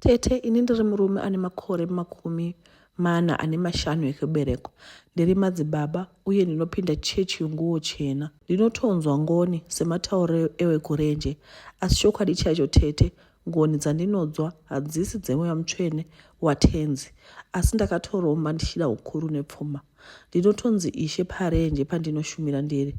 Tete, ini ndiri murume ane makore makumi mana ane mashanu ekuberekwa. Ndiri madzibaba uye ndinopinda chechi yonguwo chena. Ndinotonzwa ngoni sematauro ewekurenje, asi chokwadi chaicho tete, ngoni dzandinodzwa hadzisi dzemweya mutsvene waTenzi, asi ndakatoromba ndichida ukuru nepfuma. ndinotonzi ishe parenje pandinoshumira ndiri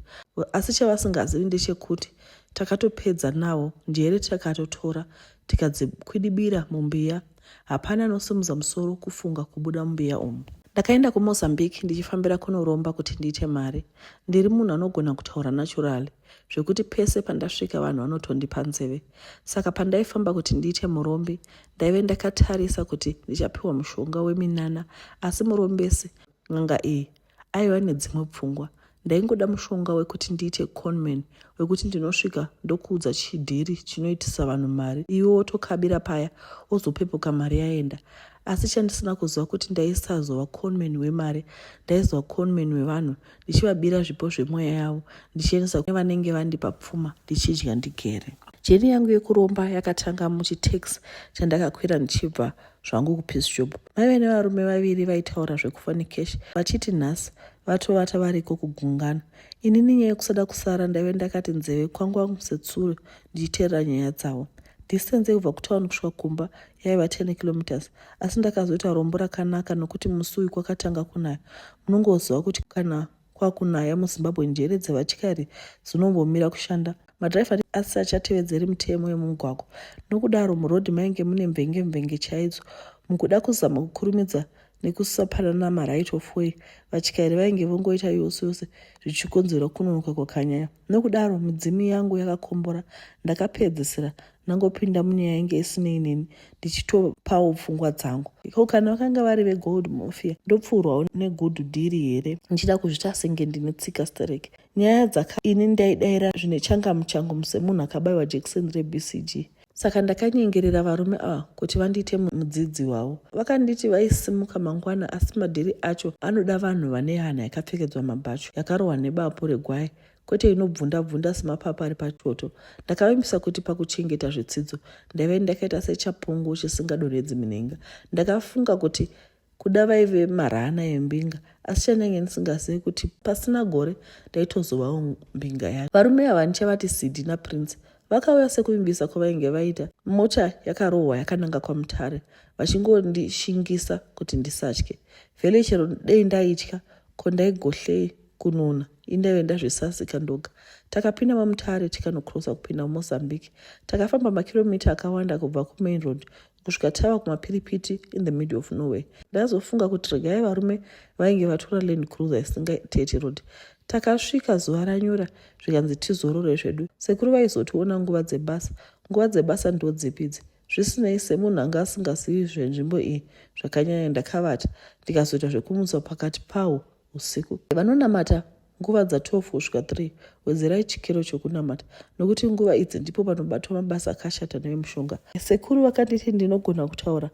asi chavasingazivi ndechekuti takatopedza nawo njere takatotora tikadzikwidibira mumbiya hapana anosimudza musoro kufunga kubuda mumbiya umu ndakaenda kumozambique ndichifambira kunoromba kuti ndiite mari ndiri munhu anogona kutaura naturally zvekuti pese pandasvika vanhu vanotondipa nzeve saka pandaifamba kuti ndiite murombi ndaive ndakatarisa kuti ndichapiwa mushonga weminana asi murombesi n'anga iyi aiva nedzimwe pfungwa ndaingoda mushonga wekuti ndiite conman wekuti ndinosvika ndokuudza chidhiri chinoitisa vanhu mari iwe wotokabira paya wozopepuka mari yaenda asi chandisina kuziva kuti ndaisazova conman wemari ndaizova conman wevanhu ndichivabira zvipo zvemweya yavo ndichiendesa kune vanenge vandipa pfuma ndichidya ndigere jeni yangu yekuromba yakatanga muchitax chandakakwira ndichibva zvangu kupeace job maive nevarume vaviri vaitaura zvekufonikesh vachiti nhasi vatovata variko kugungano inini nyaya yekusada kusara ndaive ndakati nzeve kwangu wangu setsuro ndichiteerera nyaya dzavo distance yekubva kutown kusvika kumba yaiva 10 kilometers asi ndakazoita rombo rakanaka nokuti musi uyu kwakatanga kunaya munongoziva kuti kana kwakunaya muzimbabwe njere dzevatyari dzinombomira kushanda madhiraivha asi achatevedzeri mitemo yemumugwagwa nokudaro murodhi mainge mune mvenge mvenge chaidzo mukuda kuzama kukurumidza nekusapanana maright of way vatyairi vainge vongoita yose yose zvichikonzera kunonoka kwakanyaya nokudaro midzimu yangu yakakombora ndakapedzisira ndangopinda munyaya yange isinei neni ndichitopawo pfungwa dzangu ko kana vakanga vari vegold mafia ndopfuurwawo negood dhiri here ndichida kuzvita senge ndine tsika sterek nyaya dzaka ini ndaidaira zvine changamu changu semunhu akabayiwa jekiseni rebcg saka ndakanyengerera varume ava kuti vandiite mudzidzi wavo vakanditi vaisimuka mangwana asi madhiri acho anoda vanhu vane hana yakapfekedzwa mabhachu yakarohwa nebapu regwai kwete inobvunda bvunda semapapa ari patoto ndakavimbisa kuti pakuchengeta zvitsidzo ndaive ndakaita sechapungu chisingadonhedzi minhenga ndakafunga kuti kuda vaive marana embinga asi chandange ndisingazivi kuti pasina gore ndaitozovawo mbinga yacho varume ava ndichavati sidi naprince vakauya sekuvimbisa kwavainge vaita mota yakarohwa yakananga kwamutare vachingondishingisa kuti ndisatye vhele chero dei ndaitya Ko ndaigohlei kununa indaive ndazvisasika ndoga. Takapinda mamutare tikanocrossa kupinda muMozambique. Takafamba makiromita akawanda kubva kumain road kusvika tava kumapiripiti in the middle of nowhere. Ndazofunga kuti regai varume vainge vatora land cruiser isingatete road. Takasvika zuva ranyura zvikanzi tizorore zvedu. Sekuru vaizotiona nguva dzebasa. Nguva dzebasa ndodzipidzi. Zvisinei, semunhu anga asingazivi zvenzvimbo iyi zvakanyanya, ndakavata ndikazoita zvekumutswa pakati pawo usiku. Vanonamata nguva dza 12 kusvika 3 wedzerai chikero chokunamata nokuti nguva idzi ndipo panobatwa mabasa akashata nevemushonga sekuru vakanditi ndinogona kutaura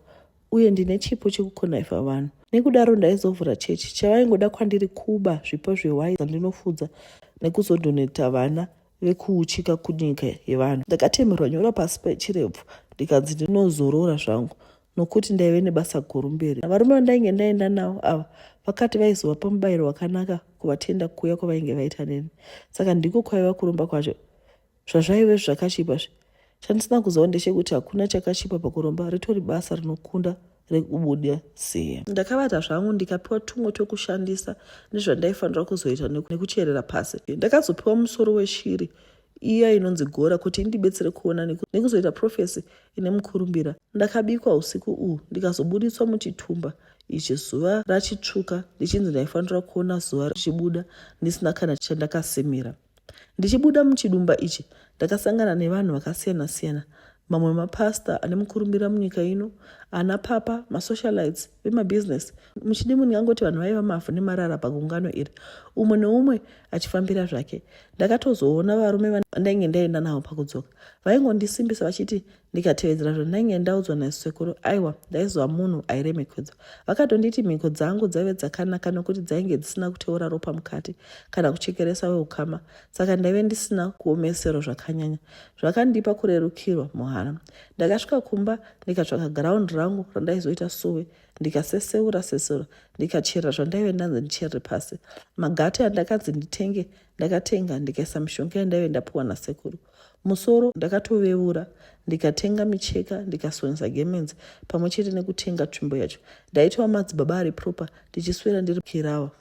uye ndine chipo chekukonaifa vanhu nekudaro ndaizovhura chechi chavaingoda kwandiri kuba zvipo zvehwai zandinofudza nekuzodhoneta vana rekuuchika kunyika yevanhu. Ndakatemerwa nyora pasi pechirebvu ndikanzi ndinozorora zvangu nokuti ndaive nebasa guru mberi. Varume vandainge ndaenda navo ava vakati vaizovapa mubayiro wakanaka kuvatenda kuuya kwavainge vaita neni, saka ndiko kwaiva kuromba kwacho. Zvazvaive zvakachipa zve Chandisina kuziva ndechekuti hakuna chakachipa pakuromba ritori basa rinokunda rekubuda siya. Ndakabata zvangu ndikapiwa tumwe twekushandisa nezvandaifanira kuzoita nekucherera pasi. Ndakazopiwa musoro weshiri iya inonzi gora kuti indibetsere kuona nekuzoita profesi ine mukurumbira. Ndakabikwa usiku uhu ndikazobuditswa muchitumba ichi zuva rachitsvuka ndichinzi ndaifanira kuona zuva richibuda ndisina kana chandakasimira. Ndichibuda muchidumba ichi, ndakasangana nevanhu vakasiyana siyana, mamwe mapastor ane mukurumbira munyika ino, ana papa, masocialites, vemabusiness. Muchidimu ndingangoti vanhu vaiva mavhu nemarara pagungano iri, umwe neumwe achifambira zvake. Ndakatozoona varume vandainge ndaenda navo pakudzoka vaingondisimbisa vachiti ndikatevedzera zvandainge ndaudzwa nasekuru aiwa ndaizova munhu airemekedzwa vakatonditi mhiko dzangu dzaive dzakanaka nokuti dzainge dzisina kuteura ropa mukati kana kuchekeresa weukama saka ndaive ndisina kuomesero zvakanyanya zvakandipa kurerukirwa muhana ndakasvika kumba ndikatsvaka ground rangu randaizoita suwe ndikaseseura sesura ndikacherera zvandaive ndanzi ndicherere pasi magate andakanzi nditenge ndakatenga ndikaisa mishonga yandaive ndapiwa nasekuru Musoro ndakatovevura ndikatenga micheka ndikasonesa gemenzi pamwe chete nekutenga tsvimbo yacho. Ndaitova madzibaba ari proper ndichiswera ndiri kirawa.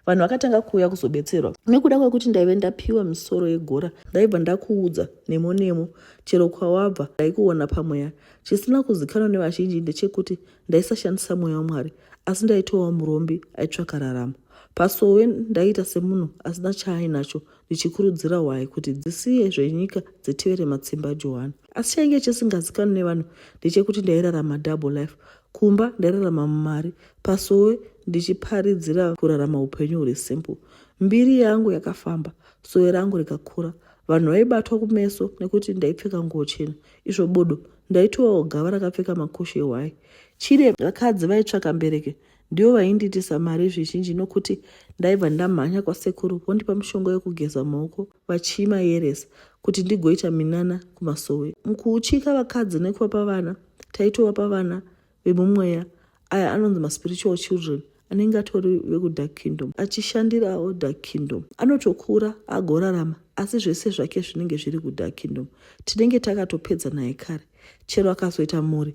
Vanhu vakatanga kuuya kuzobetserwa nekuda kwekuti ndaive ndapiwa misoro yegora. Ndaibva ndakuudza nemo nemo chero kwawabva ndaikuona pamweya. Chisina kuzikanwa nevazhinji ndechekuti ndaisashandisa mweya waMwari asi ndaitowa murombi aitsvaka raramo. Pasowe ndaiita semunhu asina chaainacho ndichikurudzira hwai kuti dzisiye zvenyika dzitevere matsimba johani asi chainge chisingazikanwi nevanhu ndechekuti ndairarama double life kumba ndairarama mumari pasowe ndichiparidzira kurarama upenyu huri simple mbiri yangu yakafamba sowe rangu rikakura vanhu vaibatwa kumeso nekuti ndaipfeka nguo chena izvo bodo ndaitovawo gava rakapfeka makushe hwai chide vakadzi vaitsvaka mbereke Ndivo vaindiitisa mari zvizhinji nokuti ndaibva ndamhanya kwasekuru vondipa mishonga yokugeza maoko vachiimayeresa kuti ndigoita minana kumasowe. Mukuuchika vakadzi nekuvapa vana, taitovapa vana vemumweya aya anonzi maspiritual children anenge atori vekudark kingdom achishandirawo dark kingdom anotokura agorarama asi zvese zvake zvinenge zviri kudark kingdom tinenge takatopedza naye kare chero akazoita mhuri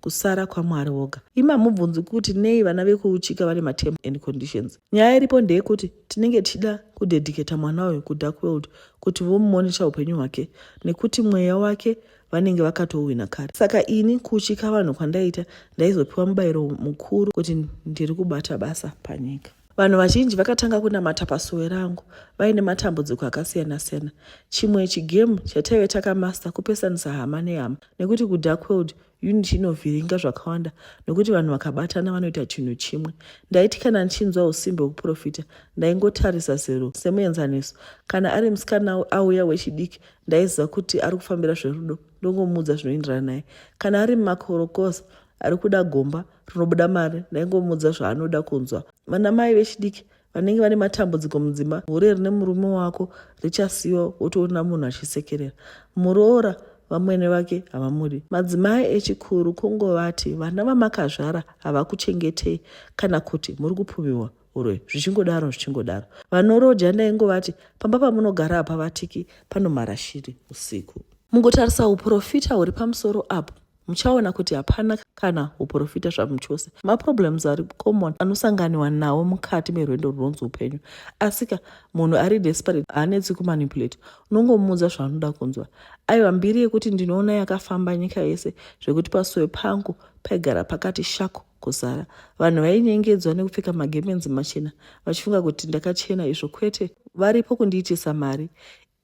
kusara kwamwari woga imamubvunzi kuti nei vana vekuuchika vane matem and conditions nyaya iripo ndeyekuti tinenge tichida kudedicata mwana uyu kudark world kuti vomumonisha upenyu hwake nekuti mweya wake vanenge vakatouhwina kare saka ini kuuchika vanhu kwandaita ndaizopiwa mubayiro mukuru kuti ndiri kubata basa panyika Vanhu vazhinji vakatanga kunamata pasuwe rangu vaine matambudziko akasiyana-siyana. Chimwe chigemu chataive takamasta kupesanisa hama nehama nekuti kudark world unity inovhiringa zvakawanda nokuti vanhu vakabatana vanoita chinhu chimwe. Ndaiti kana ndichinzwa usimbe hwekuprofita ndaingotarisa zero semuenzaniso. Kana ari musikana auya wechidiki ndaiziva kuti ari kufambira zverudo ndongomuudza zvinoenderana naye. Kana ari mumakorokoza ari kuda gomba rinobuda mari ndaingomuudza zvaanoda kunzwa vana mai vechidiki vanenge vane matambudziko mudzima hure rine murume wako richasiyiwa wotoona munhu achisekerera muroora vamwene vake havamudi madzimai echikuru kungovati vana vamakazvara havakuchengetei kana kuti muri kupfumiwa uroyi zvichingodaro zvichingodaro vanoroja ndaingovati pamba pamunogara hapavatiki panomhara shiri usiku mungotarisa uprofita huri pamusoro apo muchaona kuti hapana kana uprofita zvamuchose maproblems ari common anosanganiwa nawo mukati merwendo runonzi upenyu asika munhu ari desperate haanetsi kumanipulate unongomuudza zvaanoda kunzwa aiwa mbiri yekuti ndinoona yakafamba nyika yese zvekuti pasoe pangu paigara pakati shako kuzara vanhu vainyengedzwa nekupfeka magemenzi machena vachifunga kuti ndakachena izvo kwete varipo kundiitisa mari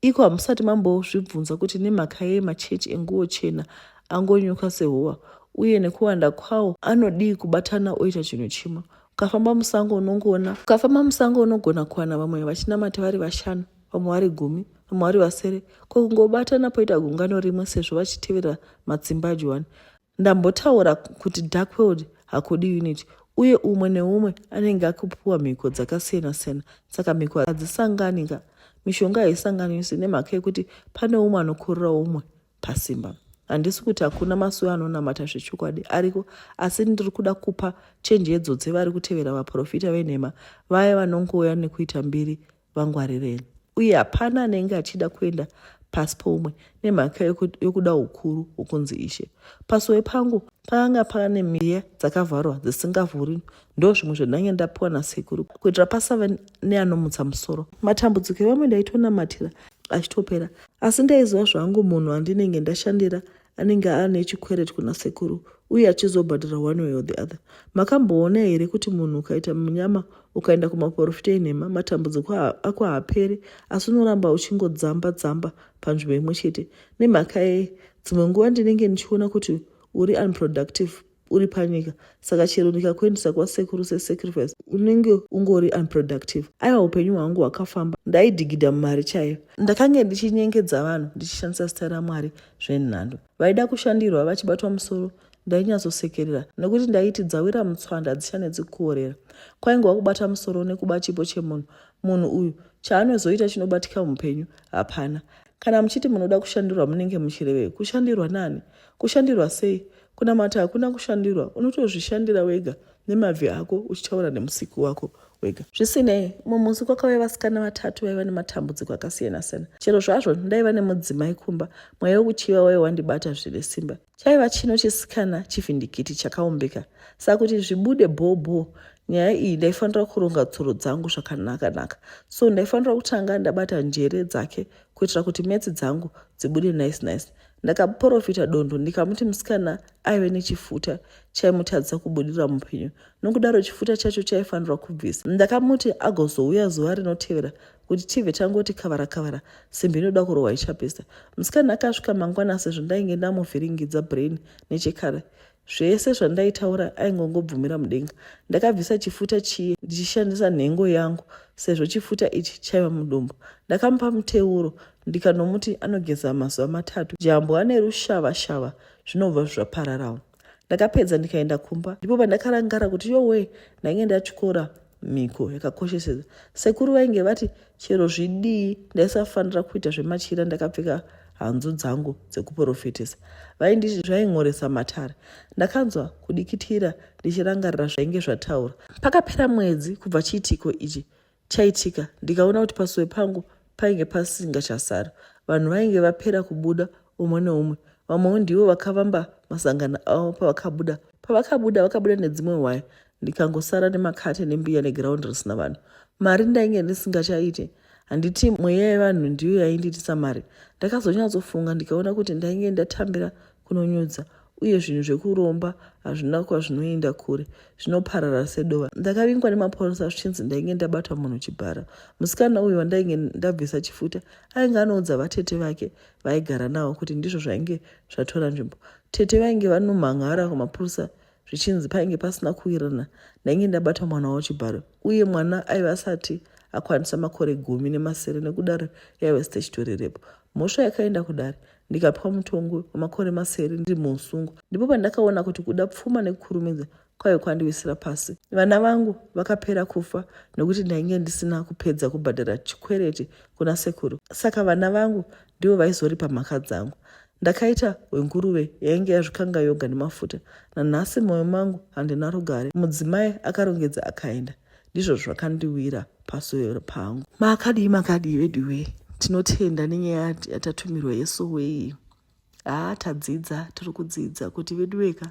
Iko hamusati mambozvibvunza kuti nemhaka yei machechi enguo chena angonyuka sehowa uye nekuwanda kwawo anodii kubatana oita chinhu chimwe? Ukafamba musango unongoona ukafamba musango unogona kuwana vamwe vachinamata vari vashanu, vamwe vari gumi, vamwe vari vasere, ko kungobatana poita gungano rimwe sezvo vachitevera matsimbaju wani. Ndambotaura kuti dark world hakudi unity uye umwe neumwe anenge akupiwa mhiko dzakasiyana siyana saka mhiko hadzisangani ka mishonga haisanganisi nemhaka yekuti pane umwe anokorera umwe pasimba handisi kuti hakuna masuwe anonamata zvechokwadi ariko asi ndiri kuda kupa chenjedzo dzevari kutevera vaprofita venhema vaya vanongouya nekuita mbiri vangwarireni uye hapana anenge achida kuenda pasi poumwe nemhaka yokuda ukuru wokunzi ishe pasowe pangu pakanga pane miya dzakavharwa dzisingavhuri ndo zvimwe zvandange ndapiwa nasekuru kuitira pasave neanomutsa musoro matambudziko evamwe ndaitonamatira achitopera asi ndaiziva zvangu munhu andinenge ndashandira anenge aane chikweret kuna sekuru uye achizobhadhara one way or the other makamboona here kuti munhu ukaita munyama ukaenda kumaporofita enhema matambudziko ako haapere asi unoramba uchingodzamba dzamba panzvimbo imwe chete nemhaka yei dzimwe nguva ndinenge ndichiona kuti uri unproductive uri panyika saka chero ndikakuendesa kwasekuru sesacrifice unenge ungori unproductive aiwa upenyu hwangu hwakafamba ndaidigidha mumari chaiyo ndakange ndichinyengedza vanhu ndichishandisa zita ramwari zvenhando vaida kushandirwa vachibatwa musoro ndainyatsosekerera nokuti ndaiti dzawira mutswanda dzichanetsi kuorera kwaingova kubata musoro nekuba chipo chemunhu munhu uyu chaanozoita chinobatika muupenyu hapana Kana muchiti munoda kushandirwa munenge muchirevei? Kushandirwa nani? Kushandirwa sei? Kunamata hakuna kushandirwa, unotozvishandira wega nemabvi ako uchitaura nemusiki wako wega. Zvisinei, umwe musi kwakauya vasikana vatatu vaiva nematambudziko akasiyana-siyana. Chero zvazvo ndaiva nemudzimai kumba, mweya wekuchiva waiva wandibata zvine simba. Chaiva chino chisikana chivhindikiti chakaumbika saka kuti zvibude bhobho nyaya iyi ndaifanira kuronga tsoro dzangu zvakanakanaka so ndaifanira kutanga ndabata njere dzake kuitira kuti metsi dzangu dzibude nice nice ndakaporofita dondo ndikamuti musikana aive nechifuta chaimutadzisa kubudirira mupenyu nokudaro chifuta chacho chaifanirwa kubvisa ndakamuti agozouya zuva rinotevera kuti tibve tangoti kavara kavara simbi inoda kurohwa ichapisa musikana akasvika mangwana sezvo ndainge ndamuvhiringidza brain nechekare zvese zvandaitaura aingongobvumira mudenga ndakabvisa chifuta chiye ndichishandisa nhengo yangu sezvo chifuta ichi chaiva mudumbu ndakamupa muteuro ndikanomuti anogeza mazuva matatu jambo ane rushava shava zvinobva zvapararawo ndakapedza ndikaenda kumba ndipo pandakarangara kuti yowe ndainge ndatyora mhiko yakakosheseza sekuru vainge vati chero zvidii ndaisafanira kuita zvemachira ndakapfeka hanzu dzangu dzekuprofitisa vainditi zvain'oresa matare ndakanzwa kudikitira ndichirangarira zvainge zvataura pakapera mwedzi kubva chiitiko ichi chaitika ndikaona kuti pasowe pangu painge pasinga chasara vanhu vainge vapera kubuda umwe neumwe vamwewo ndivo vakavamba masangano avo pavakabuda pavakabuda vakabuda nedzimwe waya ndikangosara nemakate nembiya neground risina vanhu mari ndainge ndisingachaite handiti mweya yevanhu ndiyo yaindiitisa mari ndakazonyatsofunga ndikaona kuti ndainge ndatambira kunonyudza uye zvinhu zvekuromba hazvina kwazvinoenda kure zvinoparara sedova ndakavingwa nemapurisa zvichinzi ndainge ndabata munhu chibhara musikana uyu wandainge ndabvisa chifuta ainge anoudza vatete vake vaigara navo kuti ndizvo zvainge zvatora nzvimbo tete vainge vanomhan'ara kumapurisa zvichinzi painge pasina kuwirirana ndainge ndabata mwana wavo chibharo uye mwana aive asati akwanisa makore gumi nemasere nekudaro yaive statutory repo mhosva yakaenda kudare ndikapwa mutongo wemakore masere ndiri muusungo ndipo pandakaona kuti kuda pfuma nekukurumidza kwaive kwandiwisira pasi vana vangu vakapera kufa nekuti ndainge ndisina kupedza kubhadhara chikwereti kuna sekuru saka vana vangu ndivo vaizoripa mhaka dzangu ndakaita hwenguruve yainge yazvikanga yoga nemafuta nanhasi mwoyo mangu handina rugare mudzimai akarongedza akaenda ndizvo zvakandiwira pasoro pangu makadii makadii veduwee tinotenda nenyaya yatatumirwa yesowe iyi haa tadzidza tiri kudzidza kuti veduweka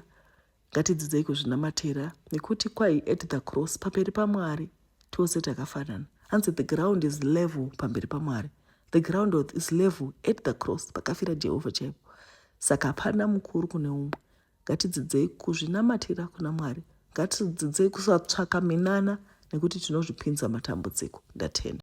Ngatidzidzei kuzvinamatira nekuti kwai at the cross pamberi paMwari tose takafanana. Hanzi the ground is level pamberi paMwari. The ground is level at the cross pakafira Jehovha chaipo. Saka hapana mukuru kune umwe. Ngatidzidzei kuzvinamatira kuna Mwari. Ngatidzidzei kusatsvaka minana nekuti tinozvipinza matambudziko. Ndatenda.